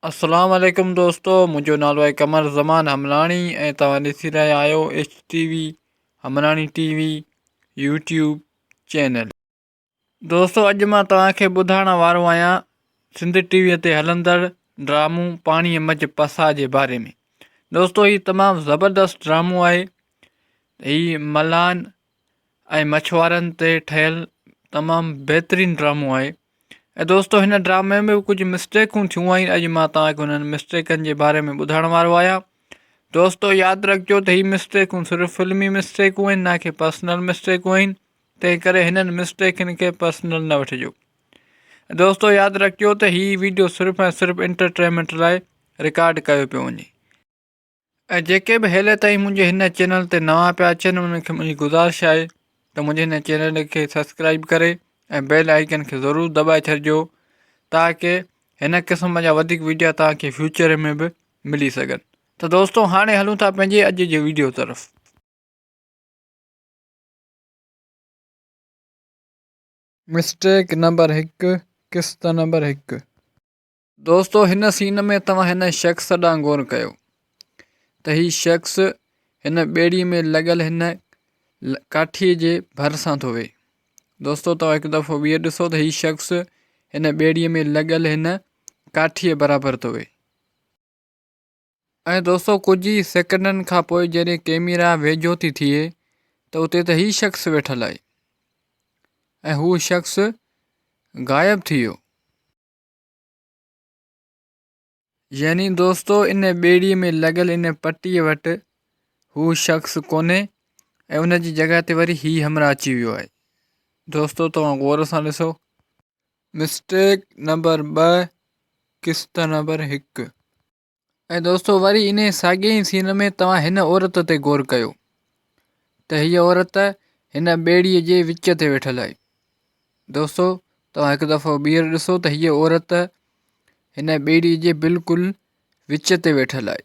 اسلام عليڪم دوستو منهنجو نالو آهي قمر زمان حملاڻي ۽ توهان ڏسي رهيا آهيو H T V Hamlani T V YouTube channel دوستو اڄ مان توهان کي ٻڌائڻ وارو آهيان سنڌ ٽي وي تي هلندڙ ڊرامو پاڻي مجھ پسا جي باري ۾ دوستو هي تمام زبردست ڊرامو آهي هي ملان ۽ مڇوارن تي ٺهيل تمام بهترين ڊرامو آهي ۽ دوستو هن ڊرامي ۾ ڪجهه مسٽيڪون ٿيون آهن اڄ مان توهانکي هنن مسٽيڪن جي باري ۾ ٻڌائڻ وارو آهيان دوستو ياد رکجو ته هي مسٽيڪون صرف فلمي مسٽيڪون آهن نه ڪي پرسنل مسٽيڪون آهن تنهن ڪري هنن مسٽيڪن کي پرسنل نه وٺجو دوستو ياد رکجو ته هي ويڊيو صرف ۽ صرف انٽرٽينمنٽ لاء رڪارڊ ڪيو پيو وڃي ۽ جيڪي به هيلي تائين منهنجي هن چينل تي نوان پيا اچن انهن کي منهنجي گذارش آهي ته منهنجي هن چينل کي سبسڪرائب ڪري ۽ بيل آئيڪن کي ضرور دٻائي ڇڏجو تاڪي هن قسم جا وڌيڪ ويڊيا تاکي فيوچر ۾ به ملي سگهن ته دوستو هاڻي هلون ٿا پنهنجي اڄ جي ويڊيو طرف مسٽيڪ نمبر هڪ قسط نمبر هڪ دوستو هن سين ۾ توهان هن شخص ڏانهن غور ڪيو ته هي شخص هن ٻيڙي ۾ لڳل هن ڪاٺي جي ڀر سان ٿو ويهي دوستو توهان هڪ دفعو ٻيهر ڏسو ته هي شخص هن ٻيڙي ۾ لڳل هن ڪاٺي برابر ٿو ويهي ۽ دوستو ڪجهه ئي سيڪنڊن کان پوء جڏهن ڪيميرا ويجهو ٿي ٿئي ته اتي ته هي شخص ويٺل آهي ۽ هو شخص غائب ٿي ويو يعني دوستو ان ٻيڙيء ۾ لڳل ان پٽيء وٽ هو شخص ڪونهي ۽ ان جي جڳهه تي وري هي همراهه اچي ويو آهي دوستو توهان غور سان ڏسو مسٽيڪ نمبر ٻه قسط نمبر هڪ ۽ دوستو وري انهي ساڳئي ئي سين ۾ توهان هن عورت تي غور ڪيو ته هيء عورت هن ٻيڙيء جي وچ تي ويٺل آهي. دوستو توهان هڪ دفعو ٻيهر ڏسو ته هيء عورت هن ٻيڙيء جي بلڪل وچ تي ويٺل آهي.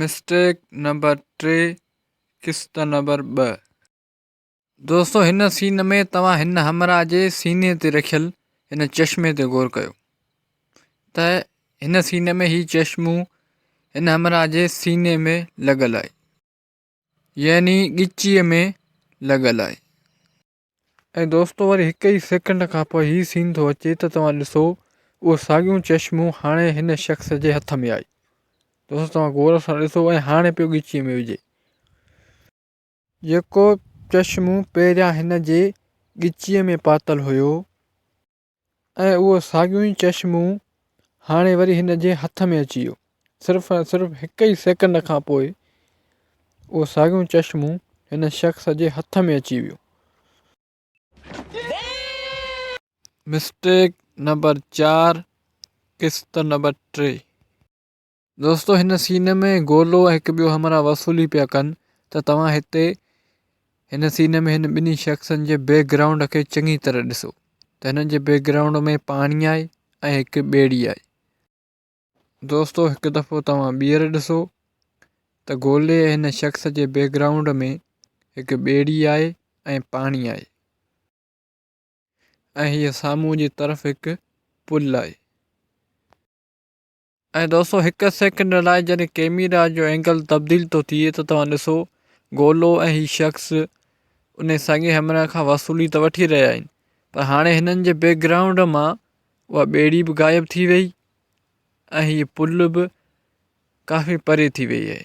مسٽيڪ نمبر ٽي قسط نمبر ٻه دوستو هن سين ۾ توهان هن همراهه جي سيني تي رکيل هن چشمي تي غور ڪيو ته هن سين ۾ هي چشمو هن همراهه جي سيني ۾ لڳل آهي يعني ڳچيء ۾ لڳل آهي ۽ دوستو وري هڪ ئي سيڪنڊ کان پوء هي سين ٿو اچي ته توهان ڏسو اهو ساڳيون چشمون هاڻي هن شخص جي هٿ ۾ آهي دوستو توهان غور سان ڏسو ۽ هاڻي پيو ڳچيء ۾ وجهي جيڪو چشمون پهريان هن جي ڳچيء ۾ پاتل هيو ۽ اهو ساڳيون ئي چشمون هاڻي وري هن جي هٿ ۾ اچي ويو صرف ۽ صرف هڪ ئي سيڪنڊ کان پوء اهو ساڳيون چشمون هن شخص جي هٿ ۾ اچي ويو. مسٽيڪ نمبر چار قسط نمبر ٽي. دوستو هن سين ۾ گولو ۽ هڪ ٻيو همراهه وصولي پيا ڪن ته توهان هتي هن سين ۾ هن ٻنهي شخصن جي بيڪ گرائونڊ کي چڱي طرح ڏسو ته هنن جي بيڪ گرائونڊ ۾ پاڻي آهي ۽ هڪ ٻيڙي آهي. دوستو هڪ دفعو توهان ٻيهر ڏسو ته گولي ۽ هن شخص جي بيڪ گرائونڊ ۾ هڪ ٻيڙي آهي ۽ پاڻي آهي ۽ هيء سامهون جي طرف هڪ پل آهي. ۽ دوستو هڪ سيڪنڊ لاء جڏهن ڪيميرا جو اينگل تبديل ٿو ٿئي ته توهان ڏسو گولو ۽ هي شخص انهي ساڳئي همراهه کان وصولي ته وٺي رهيا آهن پر هاڻي هنن جي بيڪ گرائونڊ مان اها ٻيڙي به غائب ٿي وئي ۽ هي پل به ڪافي پري ٿي وئي آهي.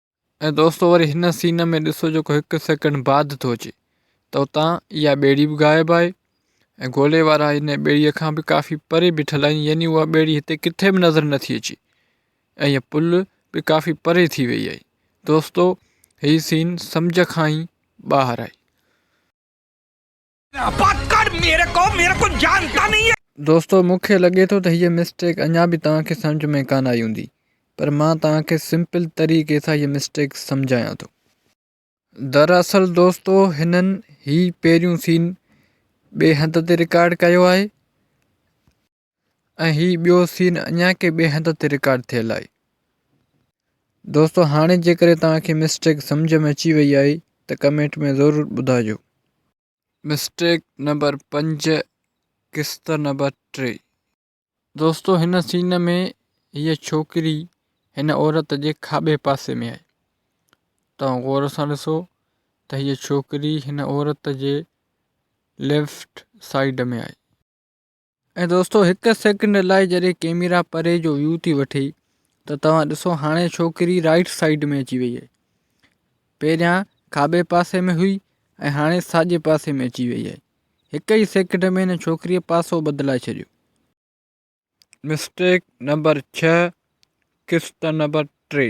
۽ دوستو وري هن سين ۾ ڏسو جيڪو هڪ سيڪنڊ بعد ٿو اچي ته اتان اها ٻيڙي به غائب آهي ۽ گولي وارا ان ٻيڙي کان به ڪافي پري بيٺل آهن يعني اها ٻيڙي هتي ڪٿي به نظر نٿي اچي ۽ اها پل به ڪافي پري ٿي وئي آهي دوستو هي سين سمجهه کان ئي ٻاهر آهي دوستو مون کي لڳي ٿو ته هيء مسٽيڪ اڃا به توهان کي سمجهه ۾ ڪانه آئي هوندي پر مان توهان کي سمپل طريقي سان هيء مسٽيڪ سمجهايان ٿو. دراصل دوستو هنن هي پهريون سين ٻئي هنڌ تي رڪارڊ ڪيو آهي. ۽ هي ٻيو سين اڃا ڪي ٻئي هنڌ تي رڪارڊ ٿيل آهي. دوستو هاڻي جيڪڏهن توهان کي مسٽيڪ سمجهه ۾ اچي وئي آهي ته ڪمينٽ ۾ ضرور ٻڌائجو. مسٽيڪ نمبر پنج قسط نمبر ٽي. دوستو هن سين ۾ هيء ڇوڪري هن عورت جي کاٻي پاسي ۾ آهي. توهان غور سان ڏسو ته هيء ڇوڪري هن عورت جي ليفٽ سائيڊ ۾ آهي. ۽ دوستو هڪ سيڪنڊ لاء جڏهن ڪيميرا پري جو ويو ٿي وٺي ته توهان ڏسو هاڻي ڇوڪري رائيٽ سائيڊ ۾ اچي وئي آهي پهريان کاٻي پاسي ۾ هئي ۽ هاڻي ساڄي پاسي ۾ اچي وئي آهي هڪ ئي سيڪنڊ ۾ هن ڇوڪريء پاسو بدلائي ڇڏيو مسٽيڪ نمبر ڇهه قسط نمبر ٽي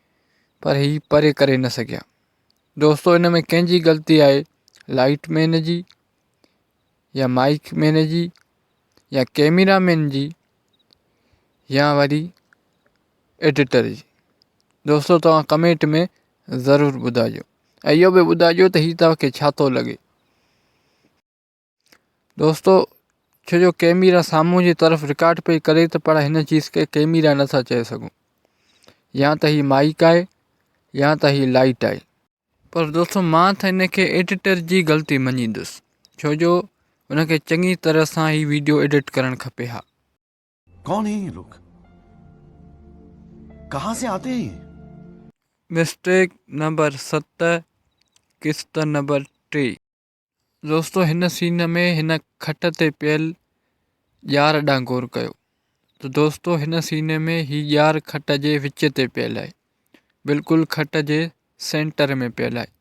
پر هي پري ڪري نه سگهيا. دوستو ان ۾ ڪنهن جي غلطي آهي لائيٽ مين جي يا مائيڪ مين جي يا ڪيميرا مين جي يا وري ايڊيٽر جي دوستو توهان ڪمينٽ ۾ ضرور ٻڌائجو ۽ اهو به ٻڌائجو ته هي توهان کي ڇا ٿو لڳي. دوستو ڇو جو ڪيميرا سامهون جي طرف رڪارڊ پئي ڪري ته پر هن چيز کي ڪيميرا نٿا چئي سگهون يا ته هي مائيڪ آهي يا ته هي لائيٽ آهي پر دوستو مان ته هن کي ايڊيٽر جي غلطي مڃيندس ڇو جو هن کي چڱي طرح سان هي ويڊيو ايڊيٽ ڪرڻ کپي ها ڪون هي هي لوگ ڪها سي آتي هي مسٽيڪ نمبر ست قسط نمبر ٽي دوستو هن سين ۾ هن کٽ تي پيل ڄار ڏانهن غور ڪيو ته دوستو هن سين ۾ هي ڄار کٽ جي وچ تي پيل آهي بلڪل کٽ جي سينٽر ۾ پيل آهي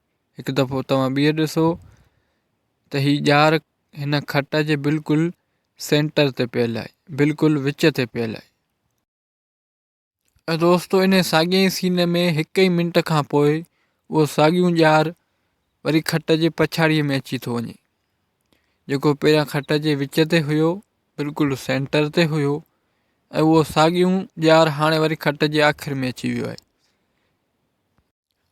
هڪ دفعو توهان ٻيهر ڏسو ته هي ڄار هن کٽ جي بلڪل سينٽر تي پيل آهي بلڪل وچ تي پيل آهي دوستو انهي ساڳئي ئي سين ۾ هڪ ئي منٽ کان پوء اهو ساڳيون ڄار وري کٽ جي پڇاڙيء ۾ اچي ٿو وڃي جيڪو پهريان کٽ جي وچ تي هيو بلڪل سينٽر تي هيو ۽ اهو ساڳيون ڄار هاڻي وري کٽ جي آخر ۾ اچي ويو آهي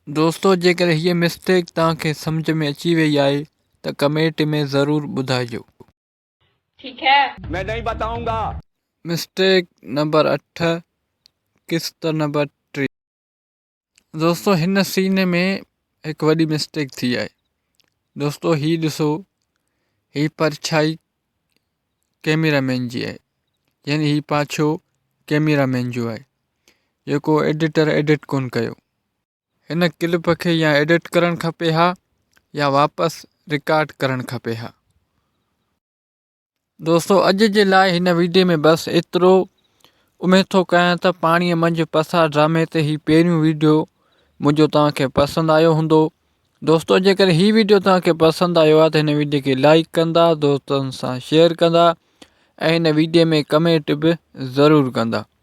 دوستو جيڪڏهن هيء مسٽيڪ توهان کي سمجهه ۾ اچي وئي آهي ته ڪميٽ ۾ ضرور ٻڌائجو ٺيڪ هي. مين نهين بتائون گا. مسٽيڪ نمبر اٺ قسط نمبر ٽي. دوستو هن سين ۾ هڪ وڏي مسٽيڪ ٿي آهي دوستو هي ڏسو هي پرڇائي ڪيميرا مين جي آهي يعني هي پاڇو ڪيميرا مين جو آهي جيڪو ايڊيٽر ايڊيٽ ڪون ڪيو هن ڪلپ کي يا ايڊٽ ڪرڻ کپي ها يا واپس رڪارڊ ڪرڻ کپي ها. دوستو اڄ جي لاء هن ويڊيو ۾ بس ايترو اميد ٿو ڪيان ته پاڻي منجهه پسار ڊرامي تي هي پهريون ويڊيو منهنجو توهان کي پسند آيو هوندو دوستو جيڪڏهن هي ويڊيو توهان کي پسند آيو آهي ته هن ويڊيو کي لائڪ ڪندا دوستن سان شيئر ڪندا ۽ هن ويڊيو ۾ ڪمينٽ به ضرور ڪندا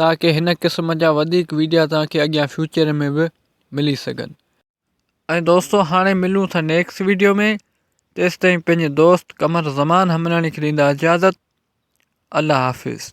تاڪه هن قسم جا وڌيڪ ويڊيا توهان کي اڳيان فيوچر ۾ به ملي سگهن ۽ دوستو هاڻي ملون ٿا نيڪس ويڊيو ۾ تيستائين پنهنجي دوست قمر زمان همراڻي کي ڏيندا اجازت الله حافظ.